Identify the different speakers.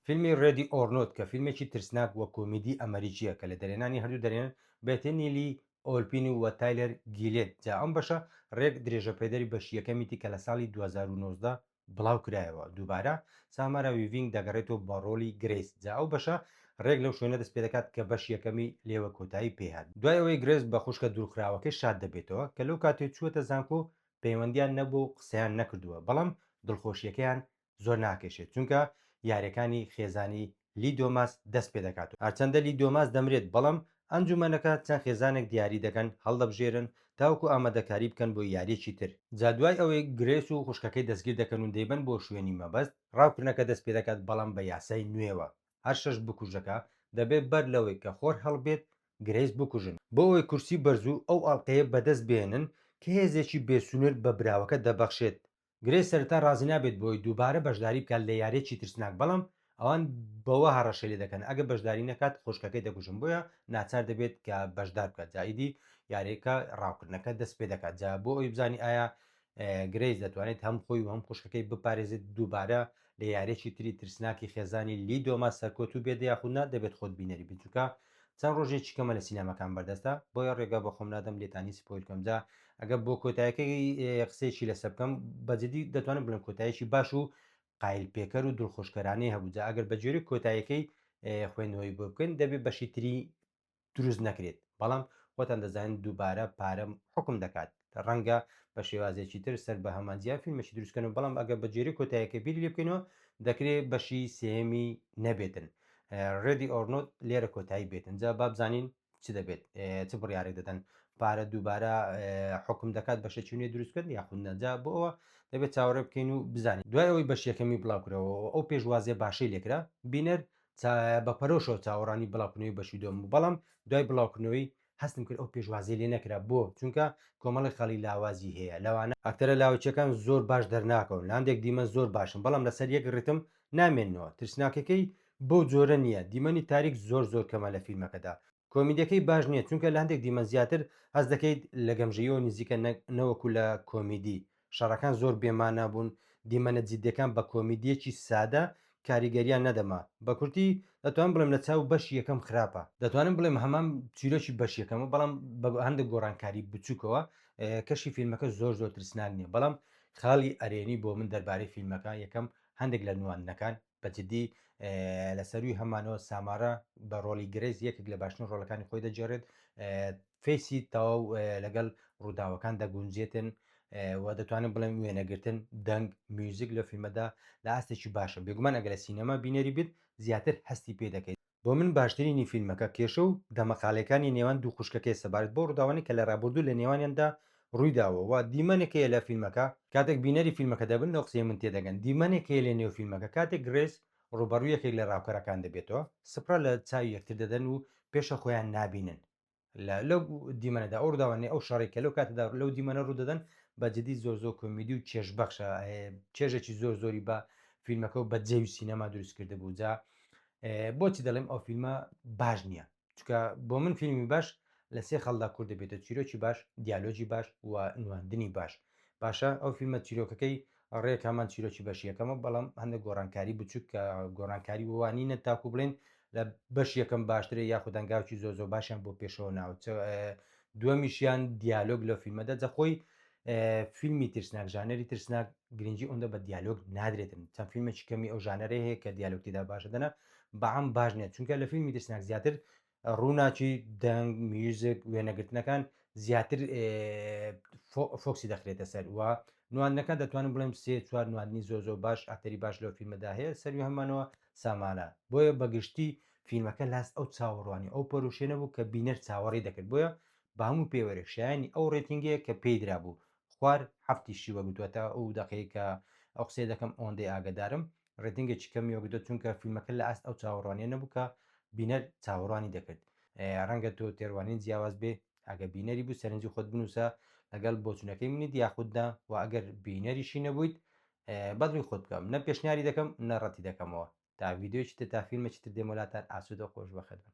Speaker 1: فیلمی ڕێدی ئۆر نۆت کە فیلمێکی ترسناک و کۆمیدی ئەمەریکییە کە لە دەرێنانی هەردوو دەرێن بێتنی لی ئۆلپین و وە تایلەر گیلێت جا ئەم بەشە ڕێک درێژەپێدەری بەشی یەکەمیتی کە لە ساڵی دوو هەزار و نۆزدە بڵاو کرایەوە دووبارە سامارا ویڤینگ دەگەڕێتەوە بۆ ڕۆڵی گرەیس جا ئەو بەشە ڕێک لەو شوێنە دەست پێدەکات کە بەشی یەکەمی لێوە کۆتایی پێهات دوای ئەوەی گرەیس بە خوشکە دوورخراوەکەی شاد دەبێتەوە کە لەو کاتەی چووەتە زانکۆ پەیوەندیان نەبووە و قسەیان نەکردووە، بەڵام دڵخۆشییەکەیان زۆر ناکێشێت، چونکە یارییەکانی خێزانی لی دۆماس دەست پێدەکات و هەرچەندە لی دۆماس دەمرێت، بەڵام ئەنجوومەنەکە چەند خێزانێک دیاری دەکەن هەڵدەبژێرن تاوەکو ئامادەکاری بکەن بۆ یارییەکی تر، جا دوای ئەوەی گرێس و خوشکەکەی دەستگیر دەکەن و دەیبەن بۆ شوێنی مەبەست، ڕاوکردنەکە دەست پێدەکات، بەڵام بە یاسای نوێوە هەر شەش بکوژەکە دەبێت بەر لەوەی کە خۆر هەڵبێت گرەیس بکوژن بۆ ئەوەی کورسی بەرزو ئەو ئاڵقەیە بەدەست بهێنن کە هێزێکی بێ سنوور بە براوەکە دەبەخشێت. گرەیس سەرەتا رازی نابێت بۆ ئەوەی دووبارە بەشداری بکات لە یاریەکی ترسناک بەڵام ئەوان بەوە هەڕەشەی لێ دەکەن ئەگەر بەشداری نەکات خوشکەکەی دەکوژن بۆیە ناچار دەبێت کە بەشدار بکات جا ئیدی یاریەکە راوکردنەکە دەست پێ دەکات جا بۆ ئەوەی بزانی ئایا گرەیس دەتوانێت هەم خۆی و هەم خوشکەکەی بپارێزێت دووبارە لە یاریەکی تری ترسناکی خێزانی لی دۆما سەرکەوتوو بێت یاخود نا دەبێت خۆت بینەری بیت چونکە چەند ڕۆژێکی کەمە لە سینەماکان بەردەستە بۆیە ڕێگا بە خۆم نادەم لێتانی سپۆیل کەم جا ئەگە بۆ کۆتایەکەی قسەیەکی لەسەر بکەم بە جدی دەتوانم بڵێم کۆتایەکی باش و قایل پێکەر و دڵخۆشکەرانەی هەبوو جا ئەگەر بە جۆری کۆتایەکەی خوێندنەوەی بۆ بکەین دەبێت بەشی تری دروست نەکرێت بەڵام خۆتان دەزانن دووبارە پارە حوکم دەکات ڕەنگە بە شێوازێکی تر سەر بە هەمان جیا فیلمێکی دروستکەن و بەڵام ئەگەر بە جێری کۆتایەکە بیری لێ بکەینەوە دەکرێت بەشی سێمی نەبێتن ڕێدی ئۆرنۆت لێرە کۆتایی بێتن جا بابزانین چ دەبێت چ بڕیارێک دەدەن پارە دووبارە حکم دەکات بە شەچونێ دروستکرد یاخود نەجا بۆ ئەوە دەبێت چاوەڕێ بکەین و بزانین دوای ئەوەی بەشیەکەمی بڵاوکرەوە ئەو پێشوازیە باشەی لێکرا بینەر بە پەرۆشەوە چاوەڕانی بڵاوکردنەوەی بەشی دوم بوو بەڵام دوای بڵاوکردنەوەی هەستم کرد ئەو پێشوازی لێ نەکرا بۆ چونکە کۆمەڵی خەڵی لاوازی هەیە لەوانە ئەکتەرە لاوەکیەکان زۆر باش دەرناکەون لاندێک دیمەن زۆر باشن بەڵام لەسەر یەک ڕیتم نامێننەوە ترسناکەکەی بەو جۆرە نیە دیمەنی تاریک زۆر زۆر کەمە لە فیلمەکەدا کۆمیدیەکەی باش نییە چونکە لە هەندێک دیمەن زیاتر هەست دەکەیت لە گەمژەیەوە نزیکە نەوەکو لە کۆمیدی شەڕەکان زۆر بێمانا بوون دیمەنە جدیەکان بە کۆمیدیەکی سادە کاریگەریان نەدەما بە کورتی دەتوانم بڵێم لە چاو بەشی یەکەم خراپە. دەتوانم بڵێم هەمان چیرۆکی بەش یەکەمە بەڵام بە هەندێک گۆڕانکاری بچوکەوە کەشی فیلمەکە زۆر زۆر ترسناک نییە بەڵام خاڵی ئەرێنی بۆ من دەربارەی فیلمەکە یەکەم هەندێک لە نواندنەکان بە جدی لە سەروی هەمانەوە سامارا بە ڕۆلی گرێز یەکێک لە باشترین ڕۆلەکانی خۆی دەجێڕێت فیسی تەواو لەگەڵ ڕووداوەکان دەگونجێتن و دەتوانین بڵێم وێنەگرتن دەنگ میوزیک لە فیلمەدا لە ئاستێکی باشە بێگومان ئەگە لە سینەما بینەری بیت زیاتر هەستی پێ دەکەیت بۆ من باشترینی فیلمەکە کێشە و دەمەقاڵێکانی نێوان دوو خوشکەکەیە سەبارەت بەو ڕووداوانەی کە لە ڕابوردوو لە نێوانیاندا ڕوویداوە و دیمەنێک هەیە لە فیلمەکە کاتێک بینەری فیلمەکە دەبن لەو قسەی من تێدەگەن دیمەنێک هەیە لە نێو فیلمەکە کاتێک گرێس ڕووبەڕووی یەکێک لە ڕاوکەرەکان دەبێتەوە سپرا لە چاوی یەکتر دەدەن و پێشە خۆیان نابینن لەو دیمەنەدا ئەو ڕداوانێ ئەو شەڕی کە لەو کاتەدا لەو دیمەنە ڕوودەدەن بە جدی زۆر زۆر کۆمیدی و چێش بەخشە چێژێکی زۆر زۆری بە فیلمەکە و بە جێوی سینەما دروست کرد بوو جا بۆچی دەڵێم ئەو فیلمە باش نییە چکە بۆ من فیلمی باش لە سێ خەڵدا کورد دەبێتە چیرۆکی باش دیالۆجی باش و نواندنی باش باشە ئەو فیلمە چیرۆکەکەی ڕێک هەمان چیرۆکی بەشی یەکەمە بەڵام هەندە گۆڕانکاری بچووک کە گۆڕانکاری وانینە تاکو بڵێن لە بەش یەکەم باشترە یاخود دەنگاوکی زۆ زۆ باشیان بۆ پێشەوە ناوچ دووەمیشیان دیالۆگ لە فیلمەدە جەخۆی فیلمی ترسناک ژانەری ترسناک گرنگجی ئەوەندە بە دیالۆگ نادرێتن چەند فیلمێکی کەمی ئەو ژانەرە هەیە کە دیالۆکتیدا باشە دەنا بەعام باش نیە چونکە لە فیلمی ترسناک زیاتر ڕووناکی، دەنگ، میوزیک، وێنەگرتنەکان زیاتر فۆکسی دەخرێتە سەر و نواندنەکان دەتوانم بڵێم سێ چوار نواندنی زۆر زۆر باش ئەتەری باش لەو فیلمەدا هەیە سەروی هەمانەوە سامانە بۆیە بەگشتی فیلمەکە لاست ئەو چاوەڕوانی ئەو پەروشێنە بوو کە بینەر چاوەڕی دەکرد بۆیە بە هەموو پێوەرێک شایانی ئەو ڕێتینگەیە کە پێی درابوو خوار هەفتیشی وەگوتوەتە ئەو دەقەیە کە ئەو قسەی دەکەم ئەوەندەی ئاگدارم ڕێتنگێکی کەمی وەگرتوە چونکە فیلمەکە لە ئاست ئەو چاوەڕوانیە نەبوو کە بینەر چاوەڕوانی دەکرد ڕەنگە تۆ تێڕوانین جیاواز بێ ئەگە بینەری بوو سەرنجی خۆت بنووسە لەگەڵ بۆچونەکەی منیت یاخوددا و ئەگەر بینەریشی نەبوویت بەدڵی خۆت بکەم نە پێشنیاری دەکەم نە ڕەتی دەکەمەوە تا ڤیددیوی چتر تا فیلمە چتر دێمەلاتان ئاسوود و خۆش بەخێت بن